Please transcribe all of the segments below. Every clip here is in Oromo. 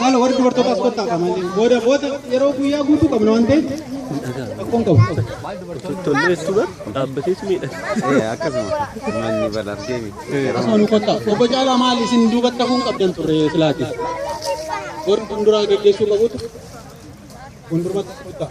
Maala warri dubartoota as kottaa qaban booda booda yeroo guyyaa guutuu qabna waan ta'eef rakkoon qabu. Tolleessu bar dhaabbatees miidha. Akkasuma manni bal argee miti. Akkasuma nu kottaa. Obbo Caalaa maal isin duubatti hafuun qabdan turre silaati. Warri fuulduraa geggeessuu qabutu fuuldurumatti as kottaa.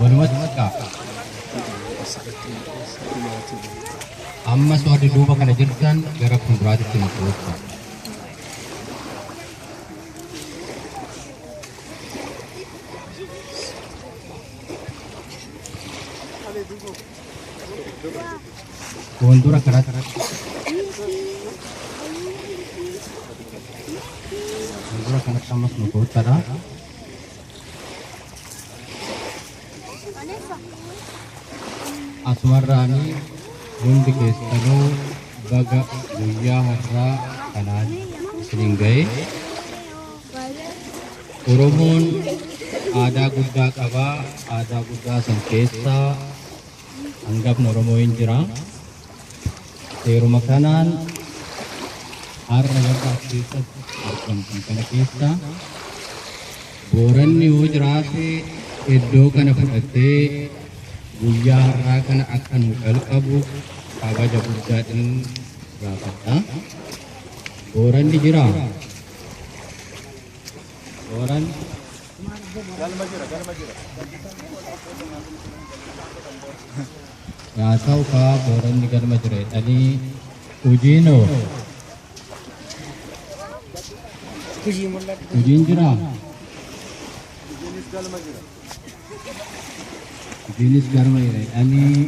Walumatti kaa. Ammas warri duuba kana jirtan gara fuulduraatitti nu koottu. Fuuldura kanatti fuuldura kanatti ammas nu koottadha. Asumarraanii hundi keessanuu baga guyyaa har'aa kanaan isiniin ga'e. Oromoon aadaa guddaa qaba. Aadaa guddaa san keessaa hangafni Oromoo hin jira. Seeruma kanaan har'a warra as keessatti argamtan kana keessaa Booranni yoo jiraate iddoo kana fudhattee guyyaa har'aa kana akka nu qalqabu kabaja guddaadhaan gaafadha. Booranni jira. Booran Yaasaw kaa booranni galma jiree dhalii hujii noo hujiin jiraa hujiinis galma jiree dhanii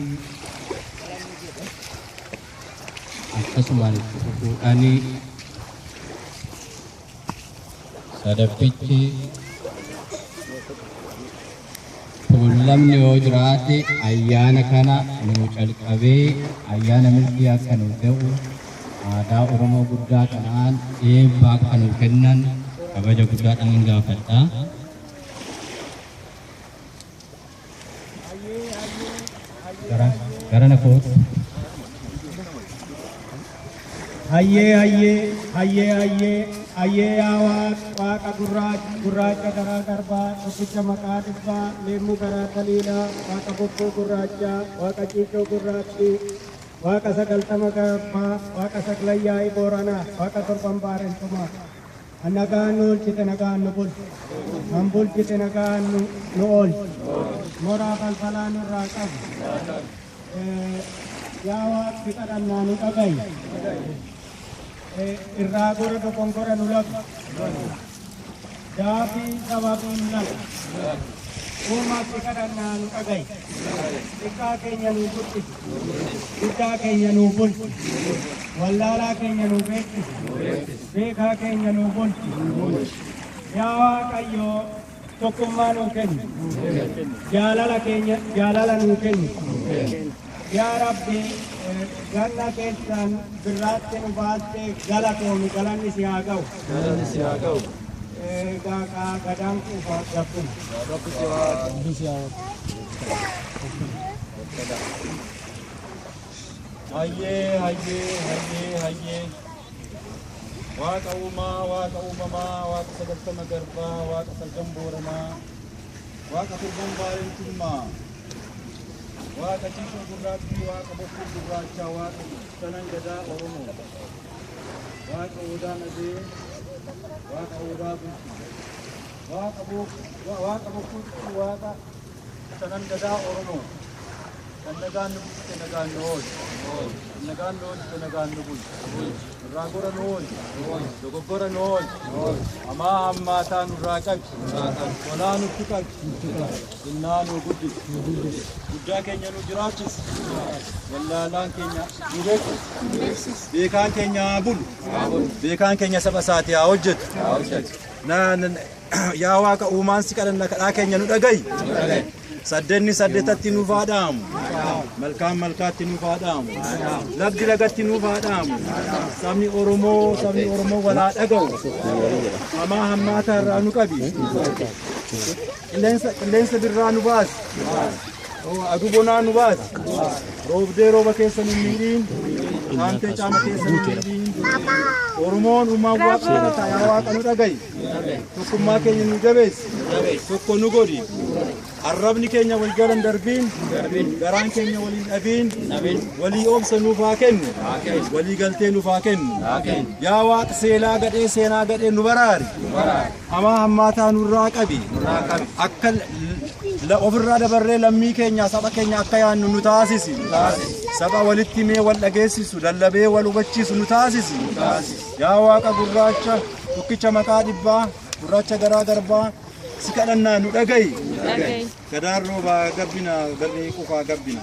akkasumaan itti fufuu dhanii Sadaffichi tuullamni yoo jiraate ayyaana kana nuu calqabee ayyaana milkii akka nuu ta'u aadaa Oromoo guddaa kanaan eebba akka nuu kennan kabaja guddaadhaan gaafadha. Garana koot. Hayyee hayyee hayyee hayyee hayyee yaa waaq waaqa gurraacha gurraacha garaa garbaa tokkicha maqaa dhibbaa leemmuu garaa taliilaa waaqa bokkuu gurraachaa waaqa ciicoo gurraattii waaqa sagaltama garbaa waaqa saglayyaa'ii booranaa waaqa torban baarentumaa. Kan nagaan nu oolchite nagaan nu bulchi. Kan bulchite nagaan nu, nu oolchi. Moraa falfalaa nurraa qabi. Eh, Yaa Waaqsi kadhannaa nu dhagayi. Eh, Irraa gora dogongora nu labi. Daafii sababii nu labi. Uumaatti kadhannaa nu dhagayi. Xiqqaa keenya nu guddisi. Guddaa keenya nu bulchi. Wallaalaa keenya nu beeksisi. Beekaa keenya nuu bulchi. Yaa Waaqayyo tokkummaa nuu kenni. Jaalala keenya jaalala nuu kenni. Yaa Rabbi ganna keessaan birraatti nu baaste galatoomi galanni si haa ga'u. Galanni si haa ga'u. Egaa kaa gadaan kuufa gabbina. Rabbi si haa. Rabbi si haa. Hayyee hayyee hayyee hayyee Waaqa uumaa Waaqa uumamaa Waaqa sagaltama garbaa Waaqa salgan booranaa Waaqa turban baarentummaa Waaqa ciisuu gurraattii Waaqa bokkuu gurraachaa Waaqa sanan gadaa Oromoo Waaqa odaa nadee Waaqa odaa bultii Waaqa bokkuu Waaqa Shanan Gadaa Oromoo kan nagaan nu bulchite nagaan nu oolchi. Kan nagaan nu oolchite nagaan nu bulchi. Nurraa gora nu oolchi. Dogoggora nu oolchi. Hamaa hammaataa nurraa qabi. Tolaa nutti qabi. Xinnaa nu guddisi. Guddaa keenya nu jiraachisi. Wallaalaan keenya nu beeksisi. Beekaan keenya haa bulu. Beekaan keenya saba isaati haa hojjetu. Na- na- Yaa Waaqa uumaan si kadhanna kadhaa keenya nu dhagayi. Saddenni saddetatti nuuf haa dhaamu. Malkaan malkaatti nuuf haa dhaamu. Lagdi lagatti nuuf haa dhaamu. Sabni Oromoo sabni Oromoo wal haa dhaga'u. Hamaa hammaataa irraa nu qabi. Qilleensa qilleensa birraa nu baasi. Aduu bonaa nu baasi. Roobdee rooba keessa nu miidhiin. Haamtee caama keessa nu miidhiin. Oromoon uumaan waaqa kana taa'aa waaqa nu dhaga'i. Tokkummaa keenya nu jabeessi. Tokko nu godhi. Arrabni keenya wal jala hin darbiin. Garaan keenya wal hin dhabiin. Walii obsa nuuf haa kennu. Walii galtee nuuf haa kennu. Yaa waaqa seelaa gadhee seenaa gadhee nu baraari. Hamaa hammaataa nurraa qabi. Akka ofirraa dabarree lammii keenya saba keenya akka yaannu nu taasisi. Saba walitti mee wal dhageessisu lallabee wal hubachiisu nu taasisi. Yaa waaqa gurraacha tokkicha maqaa dhibbaa gurraacha garaa garbaa si kadhannaa nu dhaga'i. Gadaan roobaa gabbina garri qufaa gabbina.